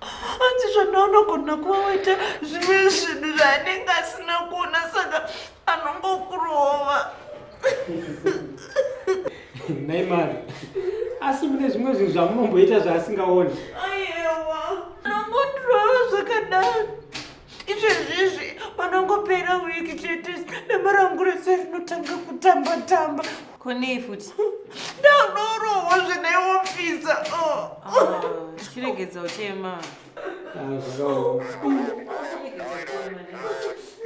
hanzi zvanaunogona kuva waita zvimwe zvinhu zvaanenge asina kuona saka anongokurova nai mari asi mune zvimwe zvinhu zvamunomboita zvaasingaoni ayewa anongotirova zvakadaro izvezvizvi panongopera wiki chete nemaranguro sezvinotanga kutamba tamba konei futi ndadorohwa zvineofisa chiregedza uchema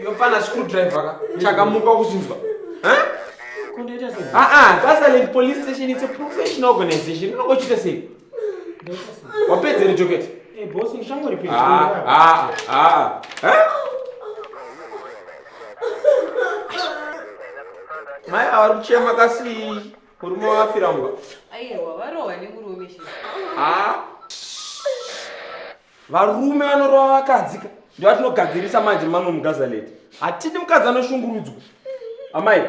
yopana screwdriver ka chakamuka kuchinzwa kundoita sei aa ah, ah, gasaland police station its a professional organization unongochita sei wapedze ri joketi eh, ah, ah, ah, mai avari kuchema kasi murume wavafira mba varume vanorova vakadzika ndo vatinogadzirisa manje mamwe mugazaleti hatidi mukadzi anoshungurudzwa amai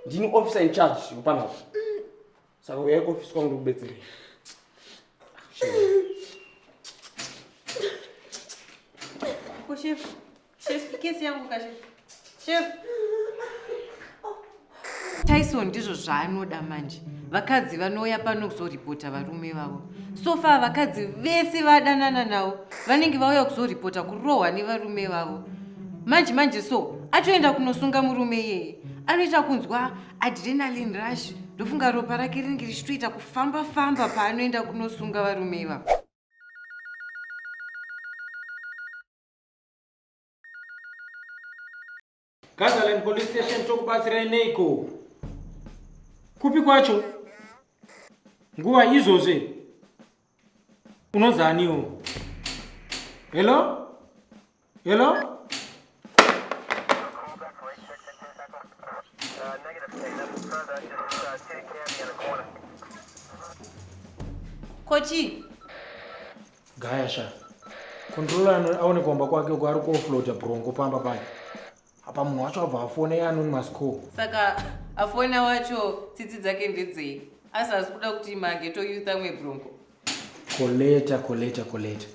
ndini officer in charge yopanapa saka uyai kuofisi kwangu ndikubetserei Ko chef, chef kesi yangu ka chef. Chef. Tyson ndizvo zvaanoda manje. Vakadzi vanouya pano kuzoripota varume vavo. So far vakadzi vese vadanana navo vanenge vauya kuzoripota kurohwa nevarume vavo. Manje manje so atoenda kunosunga murume iyeye. Anoita kunzwa adrenaline rush ndofunga ropa rake rinenge richitoita kufamba famba paanoenda kunosunga varume ivavo Gazaland Police Station tokubatsirai neiko? Kupi kwacho? Nguva izvozve unozaniwo hello hello kochi gaya sha controller aone kuomba kwake uko ari kuofloata brongo pamba paye apa munhu wacho abva afona ye anonymous call saka afona wacho tsitsi dzake ndedzei asi hazi kuda kuti mageto youth amwe brongo koleta koleta koleta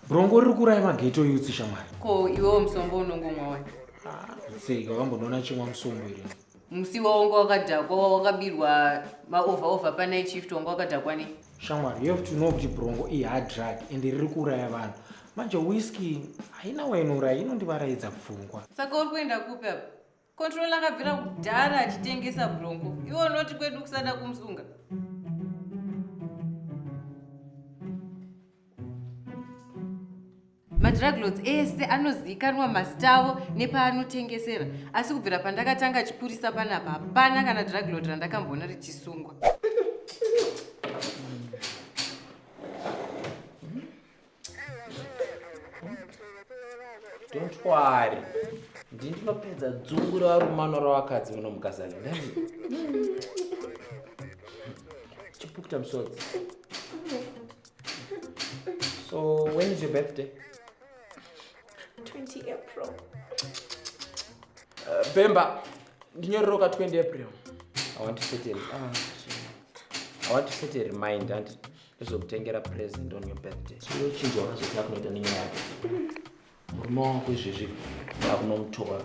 brongo riri kuuraya mageto youth shamwari ko iwewo musombo unongomwa wani Ah, sei wakambonoona chimwa musombo iri musi wawanga wakadhakwa wakabirwa maover over panight shift wanga wakadhakwa ne shamwari you have to know kuti brongo ihard drug and riri kuuraya vanhu manje whisky haina wainouraya inondivaraidza pfungwa saka uri kuenda kupi apa control akabvira kudhara achitengesa brongo iwe unoti kwedu kusada kumusunga madruglots ese anozivikanwa mazita avo nepaanotengesera asi kubvira pandakatanga chipurisa panapa hapana kana druglot randakamboona richisungwa don't worry ndini ndinopedza dzungu revarumano ravakadzi muno mukazana chipukuta musodzi So when is your birthday? 20 April. Uh, Bemba, ndinyororoka 20 April. I want to set a, ah, I want to set a reminder and ndizokutengera present on your birthday. Chinochinja wazotya kunoita nenyaya yako. Murume wako izvezvi akunomutora.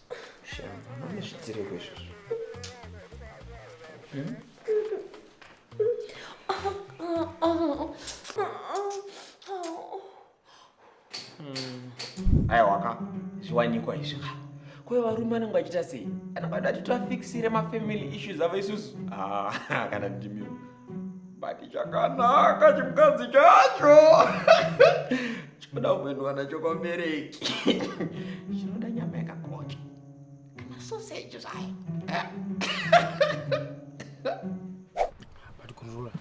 zvitireko izvozvo hmm? aiwaka zviwanikwa izvi kwayo varume anenge achita sei anenge ati atitora fixire mafamily issues avo isusu ah, kana ndimiro but chakanaka chimukadzi chacho chinoda kuendwa nacho kwabereki chinoda nyama yakakocha kana soseji zvayo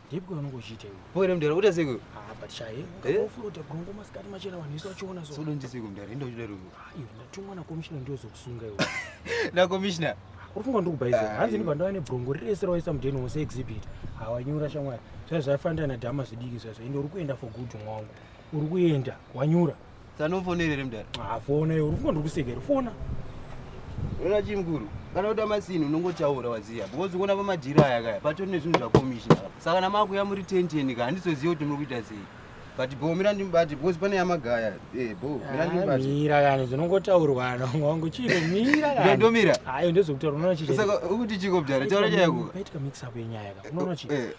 ndipwe unongochiita iwe pore mdara uta siko ah but shaye ngafuluta gongo masikati machena vanhu isu vachiona so sodo ndisiko mdara ndo chidaro iwe ndatumwa na commissioner ndiyo zokusunga iwe na commissioner uri funga ndiri kubaiza eh. hanzi ndibva ndava nebrongo rese rawaisa mudeni wose exhibit hawanyura shamwari zvai zvaifanira nadhama zvidiki zvaizvo ende uri kuenda for good mwangu uri kuenda wanyura sanofonerere mudhara hafona ah, iwe uri funga ndiri kuseka iri fona ona chii mukuru kana kuti amasini unongotaura waziva because kuona pamadhiri aya kaya patori nezvinhu zvakomishina saka namakuya muri tenteni ka handizoziva kuti muri kuita sei but bho mira ndimubati because pane yamagaya eh, bho mira ndimubati mira kana zvinongotaurwa anonga wangu chiro mira kana ndomira hayo ndozokutaura unoona chii saka ukuti chiko bdara taura nyaya yako paitika mix up yenyaya ka unoona chii eh.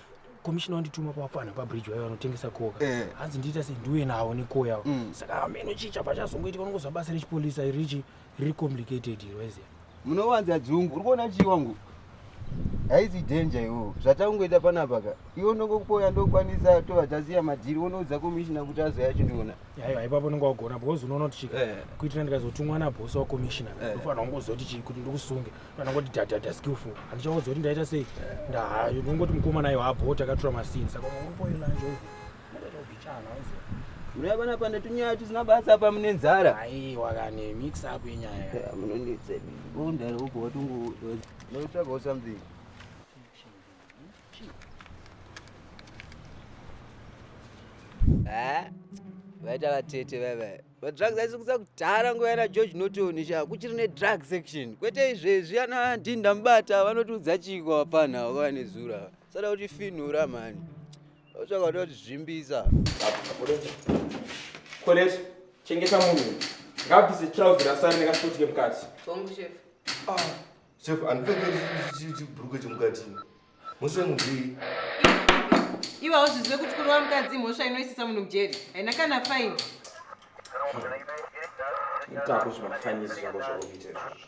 komishina wandituma pavafana pabridge vaye vanotengesa koka eh. hanzi ndiita sei ndiuye navo nekoya mm. saka hameno chii chabva chazongoitika unongoziva basa rechipolisa irichi riri complicated iro eze munowanza dzungu uri kuona chii wangu haizi danger iwo zvatangoita panapa ka iwo ndongokupoya ndokwanisa tova taziya madhiri wonoudza komishina kuti azoya achindiona aiwa ipapo unenge wagona because unoona kuti chii Eh. kuitira ndikazotumwa nabosi wakomishina Eh. ndofanira kungozoti chii kuti ndikusunge fanira kuti dadhadha skillful handichaudza kuti ndaita sei ndahayo ndongoti mukoma nayo habho takatura masini saka unongopoilanje Muriya bana pane tunyaya tusina basa apa mune nzara. Aiwa kani mix up yenyaya. Munonditse. Undari uko watungu. Notsvaga something. Eh? Vaita vatete vava. But drugs aisi kusa kudhara nguva yana George Norton sha kuchiri ne drug section. Kwete izvezvi ana ndinda mubata vanotiudza chiko hapana wakava nezura. Sada kuti finura mani. zvakatozvimbisa Colette, chengeta munhu ngabvise trouse rasari nekasikoti kemukati Bongo chef. Ah, chef andipfeke chibhurukwe chemukati mose mubvii Iwe hauzvizive kuti kurova mukadzi mhosva inoisisa munhu mujeri. Haina kana fine. itako zvimafanisi zvako zvaukuita izvozvo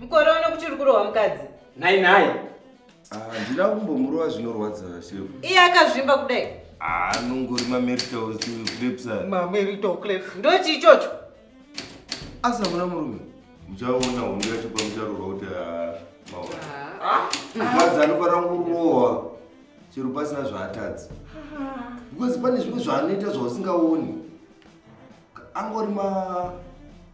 Mukore uno kuti uri kurohwa mukadzi. Nhai nhai. Ah, handina kumbomurova zvinorwadza shefu. Iye akazvimba kudai. Ah, anongori mamerito clips. Mamerito clips. Ndochi ichocho. Asi hamuna murume. Muchaona hondo yacho pamucharorwa kuti ah, maona. Ah. Mukadzi anofanira kurohwa chero pasina zvaatadzi. Because pane zvimwe zvaanoita zvausingaoni. Angori ma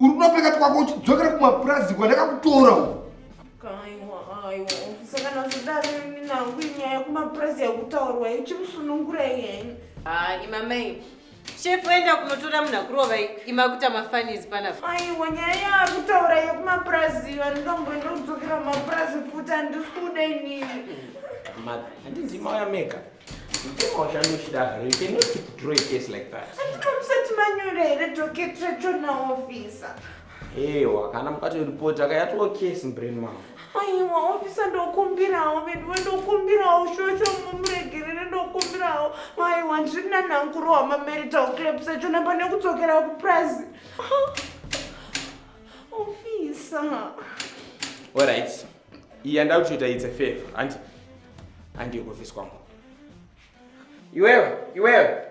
uri kuda kupeka twako uchidzokera kumapurazi kwandakakutora uko sakana zvidaro ini nangu inyaya yekumapurazi yakutaurwa ichimusunungura iyeni ah, imamai shefu enda kunotora munhu akurova imakuta mafanizi panapa aiwa nyaya yaakutaura yekumapurazi vandomboenda kudzokera kumapurazi futi handisi kuda inini handinzimauya mega Mutemo washanda uchida hre, you cannot withdraw a case like that. Handinomusati manyora here docket rachona officer? Ewa, kana mukatoripota akayatoo case mubrain mangu. Aiwa officer ndokumbirawo veduwe ndokumbirawo shosho mumuregerere ndokumbirawo. Aiwa ndiri nanhankuru wamamarital clap sachona pane kudzokera kupurazi. Officer. All right. Iyi yandava kutoita it's a favor hanti handiyo kuofisi kwangu. Iwewe, iwewe,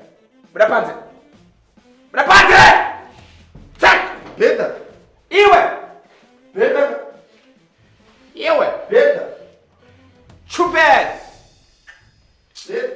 buda panze, buda panze! Tsak! Beta! Iwe! Beta! Iwe! Beta! Chupes! Beta!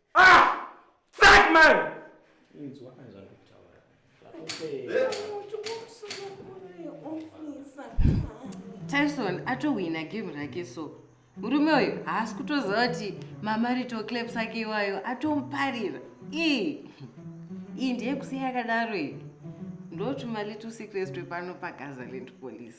Ah! Fuck man! Inzwa azvakutaura. Tyson atowina game rake so murume uyu haasi kutoziva kuti mamarito claps ake iwayo atomuparira ii iyi ndeyekusiya yakadaro iyi ndotuma little secrets twepano pagazaland police